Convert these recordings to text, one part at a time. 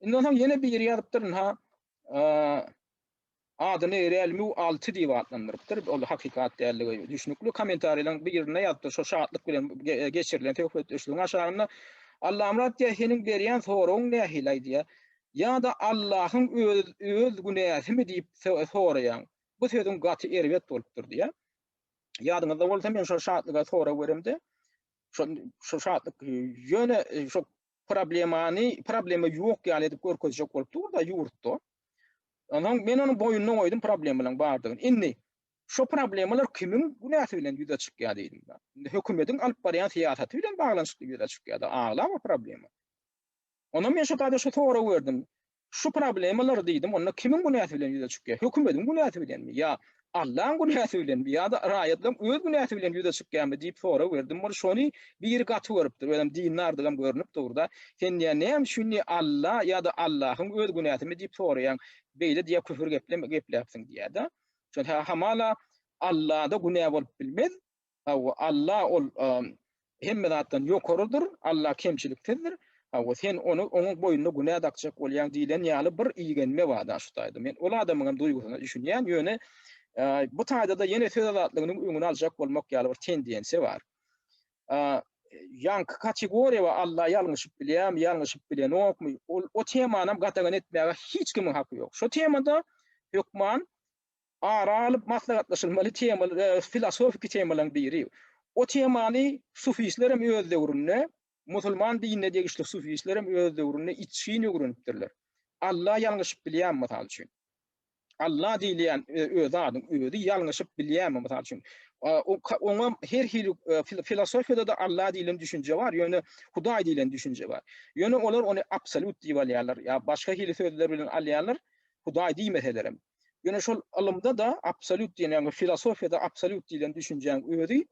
Indi onsoň ýene biri ýazypdyr, ha adyny Realme 6 diýip atlandyrypdyr. Ol hakykat däldigi düşnükli. Kommentariýalaryň birinde ýazypdyr, şo şatlyk bilen geçirilen söhbetdeşligiň aşagynda Allamyrat diýýär, seniň berýän soragyň nähili-aý diýýär. Ýa-da Allahyň öz öz günäsimi diýip soraýaň. Bu sözüň gaty erbet bolupdyr diýýär. Ýadyňyzda bolsa men şo şatlyga sorag beremde, şo şo şatlyk ýöne şo problemany, problema ýok ýaly edip görkezjek bolup dur-da ýurtda. Onsoň men onuň boýnuna goýdum problemalaryň bardygyny. Indi şu problemalar kimiň günäsi bilen ýüze çykýar diýdim. Indi hökümetiň alyp barýan syýasaty bilen baglanyşykly ýüze çykýar-da, aglaba problema. Ondan men şu taýda şu soragy berdim. Şu problemalar diýdim, onda kimiň günäsi bilen ýüze çykýar? Hökümediň günäsi bilenmi? Ýa Allaň günäsi bilenmi? Ýa-da raýatlaň öz günäsi bilen ýüze çykýarmy? diýip sorag berdim. Ol şony biri gaty görüpdir, özem dindardygam görnüp dur-da. Sen diýýär, näme üçin diýýär, Alla ýa-da Allahyň öz günäsimi diýip soraýaň? Beýle diýýär, küfür gepleme gepläpsiň diýýär-de. Şonda hamala Allada günä bolup bilmez, Hawa, Alla ol hemme zatdan ýokarydyr, Alla kemçiliksizdir. Hawa, sen ony onuň boýnuna günä dakjak bolýaň diýlen ýaly bir igenme bar-da şu taýda. Men ol adamyň hem duýgusyna düşünýän, ýöne bu taýda-da ýene söz azatlygynyň öňüni aljak bolmak ýaly bir tendensiýa bar. Ýaňky kategoriýa we Alla ýalňyşyp bilýärmi, ýalňyşyp bilenokmy, ol o temany hem gadagan etmäge hiç kimiň haky ýok. Şu temada hökman Ara alyp maslahatlaşylmaly temalar, filosofiki temalaryň biri. O temany sufistler hem öz döwründe, musulman dinine degişli sufistler hem öz döwründe içgin öwrenipdirler. Alla ýalňyşyp bilýärmi, mysal üçin? Alla diýilýän ö, zadyň özi ýalňyşyp bilýärmi, mysal üçin? Oňa her hili, filosofiýada-da Alla diýlen düşünje bar, ýöne Hudaý diýlen düşünje bar. Ýöne olar ony absolýut diýip alýarlar, ýa başga hili sözler bilen alýarlar, Hudaý diýmeselerem. Ýöne şol ylymda-da absolýut diýen, ýagny filosofiýada absolýut diýlen düşünjäň özi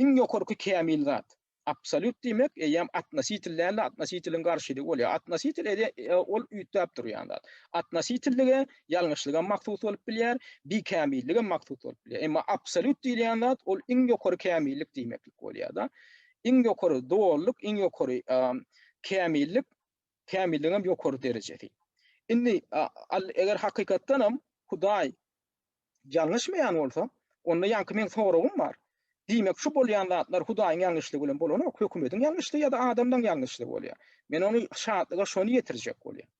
iň ýokarky kämil zat. Absolýut diýmek eýýäm atnositel däl-de, atnositeliň garşylygy bolýar. Atnositel e, ol üýtgäp durýan zat. Atnositellige ýalňyşlygam mahsus bolup bilýär, bikämilligem mahsus bolup bilýär. Emma absolýut diýilýän zat ol iň ýokary kämillik diýmeklik bolýar-da. Iň ýokary dolulyk, iň ýokary kämillik Kämilligiňem ýokary derejesi. Indi eger hakykatdanam Hudaý ýalňyşmaýan bolsa, onda ýaňky meň soragym bar. Diýmek, şu bolýan zatlar Hudaýyň ýalňyşlygy bilen bolanok, hökümediň ýalňyşlygy ýa-da adamlaryň ýalňyşlygy bolýar. Men ony şatlyga şony ýetirjek bolýan.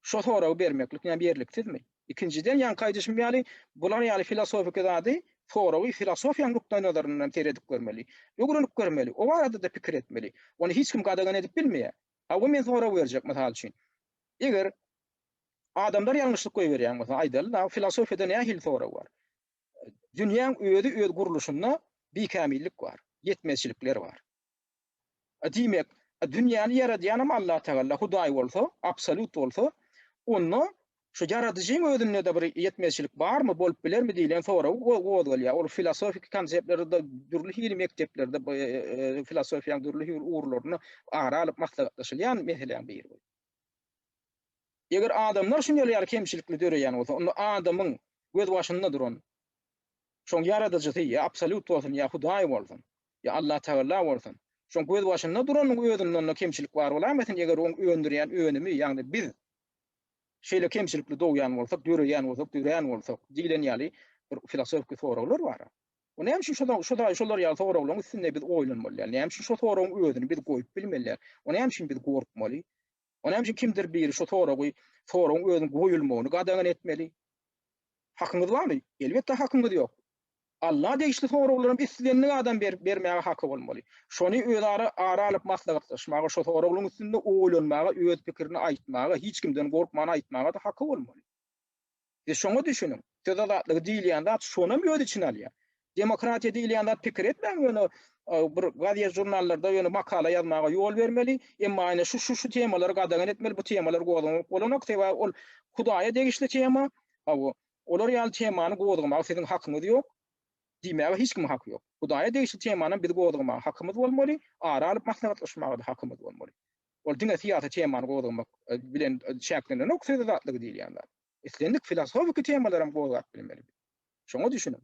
Şo soragy bermeklik näme ýerliksizmi? Ikinjiden, ýaňky aýdyşym ýaly, bular ýaly filosofiki zady, soragy filosofiýanyň nukdaýnazaryndan seredip görmeli. Öwrenip görmeli. O barada-da pikir etmeli. Ony hiç kim gadagan edip bilmeýär. Hawa, men sorag berjek, mysal üçin. Eger adamlar ýalňyşlyk goýberýän bolsa, aýdaly-da, filosofiýada nähili sorag bar? Dünýäň özi öz gurluşynda bikämillik bar, ýetmezçilikler bar. Diýmek, dünýäni ýaradýanam Allatagalla, Hudaý bolsa, absolýut bolsa, onda şu ýaradyjyň özünde-de bir ýetmezçilik barmy, bolup bilermi diýlen sorag gozgalýar. Ol filosofiki konseptlerde, dürli hili mekdeplerde, filosofiýanyň dürli hili ugurlarynda ara alyp maslahatlaşylýan meseläň biri. Eger adamlar şunuň ýaly kemçilikli döreýän bolsa, onda adamyň gözbaşynda duran şoň ýaradyjysy ýa absolýut bolsun, ýa Hudaý bolsun, Ýa Allatagalla bolsun. Şoň gözbaşynda duranyň özünde onda kemçilik bar bolaýmasyn eger oň öndürýän önümi ýagny biz şeýle kemçilikli dogýan bolsak döreýän bolsak dörän bolsak diýlen ýaly bir filosofiki soraglar bar a. O näme üçin şoda şo da şolar ýaly soraglaryň üstünde biz oýlanmaly däl näme üçin şo soragyň özüni biz goýup bilmeli däl o näme üçin biz gorkmaly O näme üçin kimdir biri şu soragy, soragyň özüniň goýulmagyny gadagan etmeli? Hakyňyz barmy? Elbetde hakyňyz ýok. Alla degişli soraglaram islendik adam berip bermäge haky bolmaly. Şony özara ara alyp maslahatlaşmaga, şu soraglaryň üstünde oýlanmaga, öz pikirini aýtmaga, hiç kimden gorkman aýtmaga-da haky bolmaly. Siz şoňa düşüniň. Söz azatlygy diýilýän zat şonam öz içine alýar. Demokratiýa diýilýän zat pikir etmäň ýöne bir gazet žurnallarda ýöne makala ýazmaga ýol bermeli, emma aýna şu şu şu temalary gadagan etmeli, bu temalar gozgamak bolanok, sebäbi ol Hudaýa degişli tema, hawa, olar ýaly temany gozgamaga siziň hakyňyz ýok, diýmäge hiç kimiň haky ýok. Hudaýa degişli temanam biz gozgamaga hakymyz bolmaly, ara alyp maslahatlaşmaga-da hakymyz bolmaly. Ol diňe syýasy temany gozgamak bilen çäklenenok söze zatlygy diýilýän zat. Islendik filosofiki temalaram gozgap bilmeli biz. Şoňa düşüniň.